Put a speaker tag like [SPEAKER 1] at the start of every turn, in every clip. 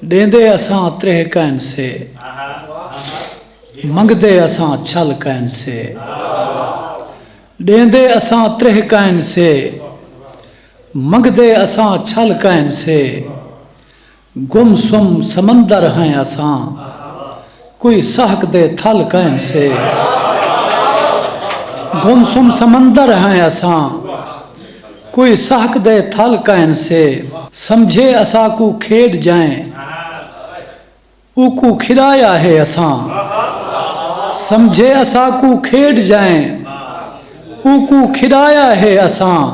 [SPEAKER 1] ݙیندے اساں تریہہ کائن سے منگدے اساں چھل کائن سے ݙیندے اساں تریہہ کائن سے منگدے اساں چھل کائن سے گم سم سمندر ہیں اساں کوئی سہک دے تھل کائن سے۔ گم سم سمندر ہیں اساں۔ کوئی سہک دے تھل کائن سے۔ سمجھے اساکوں کھیڈ جائیں۔ اوکوں کھڈایا ہے اساں۔ سمجھے اساکوں کھیڈ جائیں۔ اوکوں کھڈایا ہے اساں۔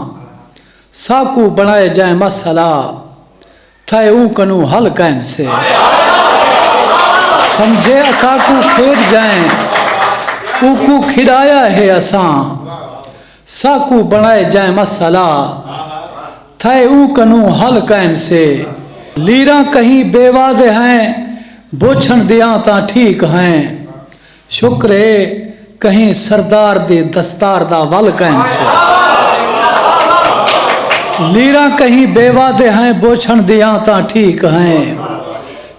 [SPEAKER 1] ساکوں بنڑائے جائیں مسئلہ۔ تھئے اوں کنوں ہل کائن سے۔ سمجھے اساکوں کھیڈ جائیں اوکوں کھیڈایا ہے اساں ساکوں بنڑائے جائیں مسئلہ تھئے اوں کنوں ہل کائن سے۔ لیراں کہیں بے واضح ہیں بوچھن دیاں تاں ٹھیک ہیں شکر اے کہیں سردار دی دستار دا ول کائن سے لیراں کہیں بیوہ دے ہیں بوچھن دیاں تاں ٹھیک ہیں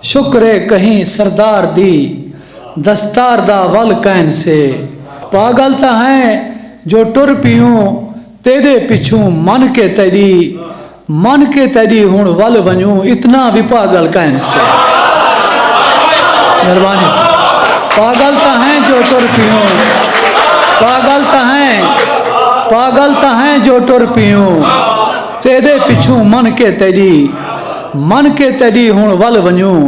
[SPEAKER 1] شکر اے کہیں سردار دی دستار دا ول کائن سے پاگل تاں ہیں جو ٹر پیوں تیݙے پچھوں من کے تیݙی من کے تیݙی ہݨ ول ونڄوں اتنا وی پاڳل کائن سے مہربانی سے پاڳل تاں ہیں جو ٹر پیوں پاڳل تاں ہیں پاڳل تاں ہیں جو ٹر پیوں تیݙے پچھوں من کے تیݙی من کے تیݙی ہݨ ول ونڄوں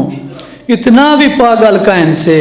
[SPEAKER 1] اتنا وی پاڳل کائن سے۔